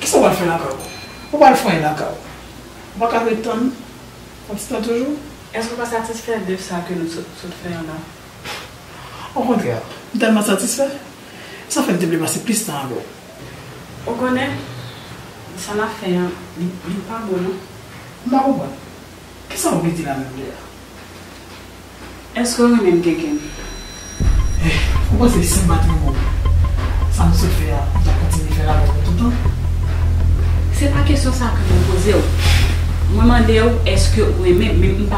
Kisa w pral fè lakay ou? Ou pral fanyen lakay ou? Ou pa ka ret tann? W ap sitan toujou? Èske ou pa satisfè de sa ke nou sot fè an la? Okontrè, m tèlman satisfè, Sa fè m te vle pase plis tan avè w. Ou konnen, sa n ap fè an, li pa bon non. M pa konprann. Ki sa ou vle di la menm deja? Èske w renmen m kenken? Eh, ou panse si m pa t renmen w, sa m sot fè a, ou t ap kontinye fè l avè m pou toutan? Se pa kesyon sa ke mwen poze w. Mwen mande w èske ou renmen m, men m pa.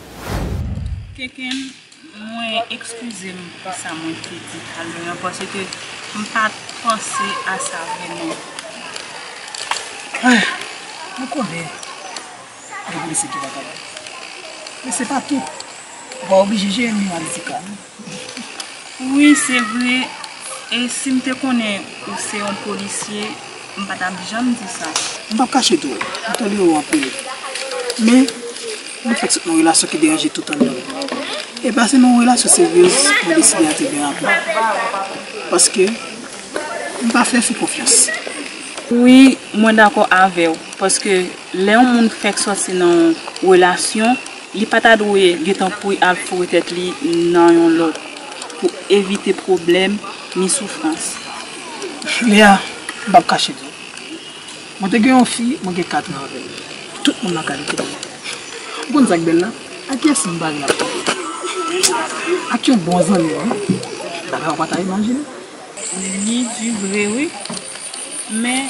Kenken mwen ekskize m pou sa mwen te di tale an paske m pat panse a sa vreman. Ahh mwen konnen gen polisye ki vagabon men se pa tout ou pa oblije jeye m yon aditika non. Wi se vre e sim te konnen ou se yon polisye m pa tap janm di sa. M pap kache di w, m tolere w anpil. Men, nou fèk sot nan yon relasyon ki deranje tout andan m. E ba se nan yon relasyon seryez mwen deside antre byen rapid. Paske, m pa fè fi konfyans. Wi, mwen dakò avè w. Paske, lè yon moun fèk soti nan yon relasyon. Li pa ta dwe gentan kouri al foure tèt li nan yon lòt pou evite pwoblèm ni soufrans. Julia, M pap kache di w. Mwen te gen yon fi, mwen gen katran avè l. Tout moun lakay li te bèl. Ou konn sa k bèl la? Ak kiyès m pare m ap kanpe? Ak yon bon zanmi m wi. Bagay ou pa ta imajine. Li di vre wi. Men.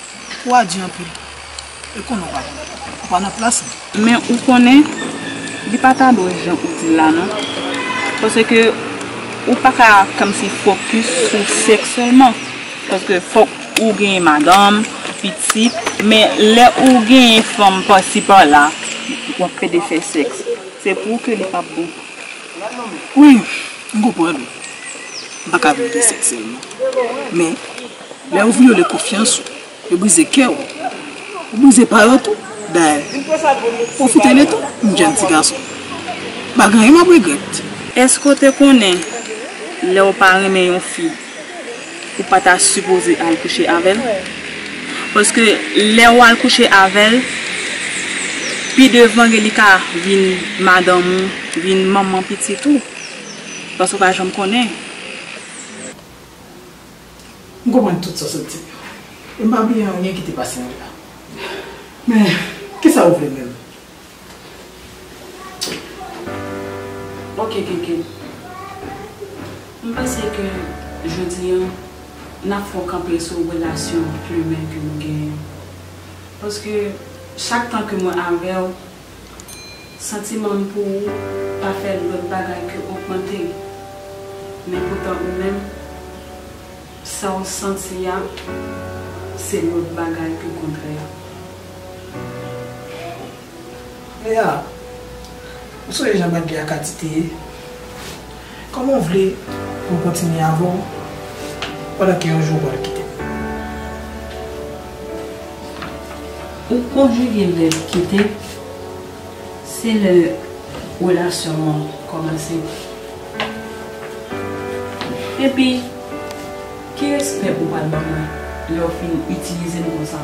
Wa di anpil. E konnen w pa konn. Ou pa nan plas ou. Men ou konnen, li pa ta dwe jan ou di l la non. Paske ou pa ka kòmsi fokis sou sèks sèlman. Paske fòk ou genyen madanm, pitit. Men lè ou genyen fanm pasi pala, w ap pede fè sèks. Se pou ou ke li p ap bon. Wi, m konprann ou. M pa ka viv de sèks sèlman. Men. Lè yo vyole konfyans ou, yo brize kè ou, yo brize pa yo tou. Dayè, pwofite de tan, m jenn ti gason. M pa gen anyen m ap regrèt. Èske w te konnen lè w pa renmen yon fi, ou pa ta sipoze al kouche avè l? Paske lè w al kouche avè l, pi devan gen li ka vin madanm ou, vin manman pitit ou. Paske w pa janm konnen. M konprann tout sa w sot di yo. E m pa bliye anyen ki te pase anlè a. Men, kisa ou vle menm? Ok Kenken. M panse ke jodi an, n ap fè w kanpe sou relasyon plimen ke nou genyen. Paske, chak tan ke mwen avè w. Santiman m pou ou pa fè lòt bagay ke ogmante l. Men poutan ou menm, sa w santi a se lòt bagay ke kontrè a. Lea, ou sonje jan Maggie ak Ati te ye? Kòman w vle pou m kontinye avè w pandan ke yon jou ou pral kite m? Ou konjige vèb kite, se lè relasyon nou an kòmanse. Epi, ki respè ou pral ban mwen lè w fin itilize m konsa?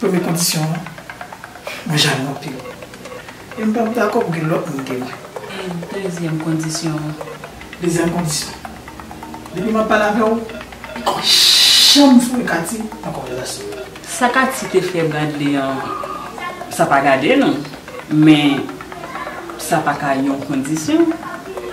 Premye kondisyon an, mwen jalou anpil. E m pap dakò pou gen lòt moun ke mwen. E dezyèm kondisyon an? Dezyèm kondisyon, depi m ap pale avè w, li pa janm foure Katie nan konvèzasyon l. Sa Katie te fè Bradley an, sa pa gade nou, men sa pa ka yon kondisyon.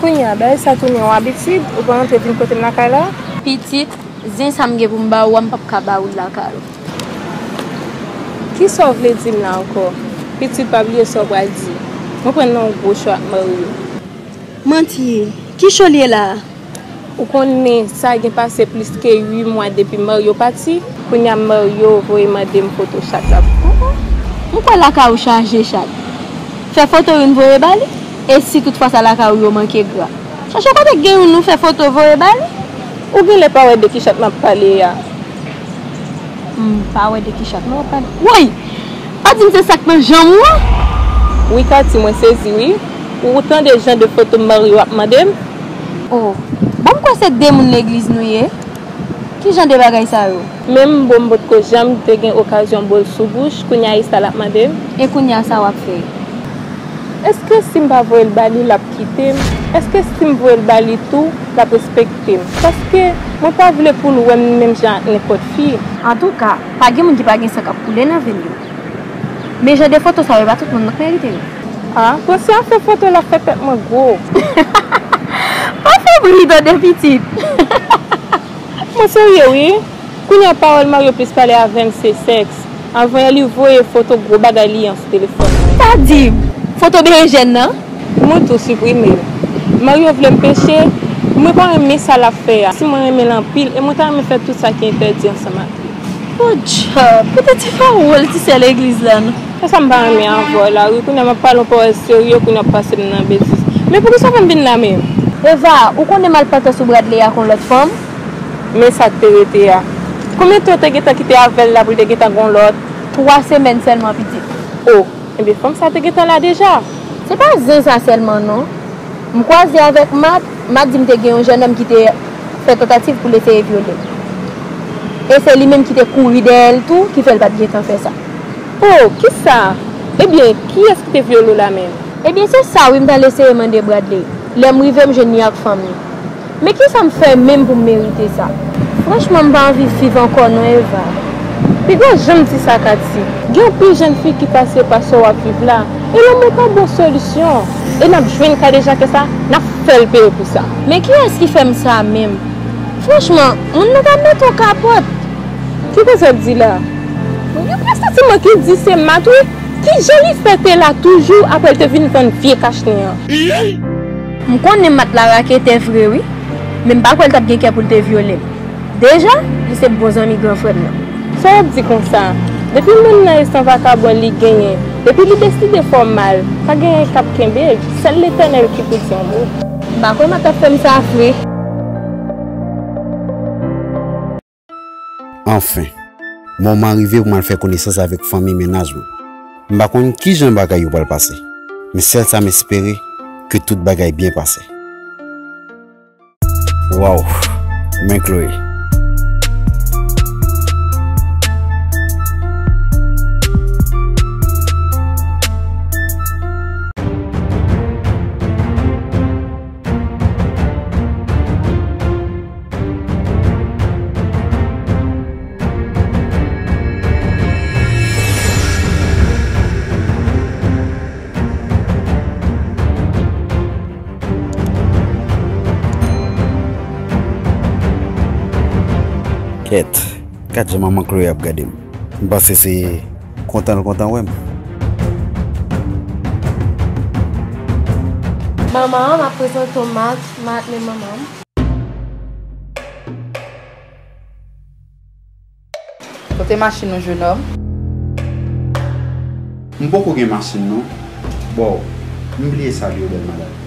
Kounye a, bagay sa tounen yon abitid, ou pa antre vin kote m lakay la. Pitit, zen sa m gen pou m ba ou a m p ap ka ba ou l lakay ou. Ki sa w vle di m la ankò? Pitit, pa bliye sa w pral di. Mwen pran nan yon gwo cho ak Maryo. Manti, ki cho l ye la a? Ou konnen sa gen pase plis ke 8 mwa depi Mario pati, kounya Mario voye mande m foto chat la pou kontan. M kwè lakay ou chaje chat. Fè foto youn voye ba li, e si tout fwa sa lakay ou yo manke gra. Chache kote k gen youn ou fè foto voye ba li. Ou genlè pa wè de ki chat m ap pale a. M pa wè de ki chat non w ap pale. Woy! Pa di m se sa k nan janm ou an? Wi Katie, mwen sezi wi. Ou tande jan de foto Mario ap mande m? Oh bon m kwè se 2 moun legliz nou ye? Ki jan de bagay sa yo? Menm bo m potko janm te gen okazyon bo l sou bouch, kounya e sa l ap mande m? E kounya sa w ap fè? Èske si m pa voye l ba li, l ap kite m? Èske si m voye l ba li tou, l ap respekte m? Paske mwen pa vle pou l wè m menm jan ak nenpòt fi. Antouka, pa gen moun ki pa gen san k ap koule nan ven yo. Men jan de foto sa yo e pa tout moun nan k merite yo. Ha pwensy ap fè foto lap fè tèt mwen gwo. Pa fè bri tande pitit. Mwen serye wi, kounya pawòl Mario plis pale avèm se sèks, avan yè li voye foto gwo bagay li an sou telefòn mwen. Pa dim! Foto berejèn nan? Mwen tou siprime. Mario vlem peche, mwen pa renmen sa lap fè a, si mwen renmenl anpil e mwen ta renmen fè tout sa ki entèdi ansanm ak li. Bon djòb! Kote ti fawol ti sè legliz lan? Se sam pa renmen an vwa la wi kounya map pale yon pawòl serye kounya wap pasem nan betiz men poukisa w fèm vin la menm. Eva, ou konnen mal patan sou Bradley ak yon lòt fanm? Men sak te rete a. Konbyen tan ou te gentan kite avèl la poul te gentan gen yon lòt? 3 semèn sèlman pitit. Oh enben fanm sa te gentan la deja. Se pa zen sa sèlman non. M kwaze avèk Matt, Matt dim te gen yon jènòm ki te fè tantativ poul eseye vyolem. E se li menm ki te kouri dèyèl tou ki fèl pat gentan fè sa. Oh kisa? Ebyen kiyès ki te vyole w la menm? Ebyen se sa wi m t al eseye mande Bradley lè m rive m jwenn li ak fanm li. Men kisa m fè menm pou m merite sa? Franchman m pa anvi viv ankò non Eva. Piga janm di sa Katie. Gen anpil jèn fi ki pase pa sa w ap viv la e lanmou pa bon solisyon e n ap jwenn kadejakè sa n ap fè l peye pou sa. Men kiyès ki fè m sa menm? Franchman moun nan ka mete w kapòt. Ki koz wap di la? Gen plis santiman ki di se Matt wi. Kijan li fè te la toujou aprè l te vin vann vye kach li an? Iiiii! M konnen Matt la raketè vre wi, men m pa kwè l tap gen kè pou l te vyole m. Deja, li se bon zanmi gran frè m nan. Sa wap di konsa? Depi moun nan e san vakabon li genyen, depi li deside fè w mal, pa genyen kap kenbe l, sèl Letènèl ki pou di yon mo. M pa kwè Matt tap fè m sa vre. Anfen, moman an rive pou m al fè konesans avèk fanmi mennaj mwen. M pa konn ki jan bagay yo pral pase, men sèl sa m espere ke tout bagay byen pase. Waww men Chloé. Kèt, gad jan manman Chloé ap gade m. M panse se kontan l kontan wè m. Manman, m ap prezante w Marc. Marc, men manman m. Kote machin ou jenòm? M poko gen machin non boo. M bliye sal yo bèl madanm.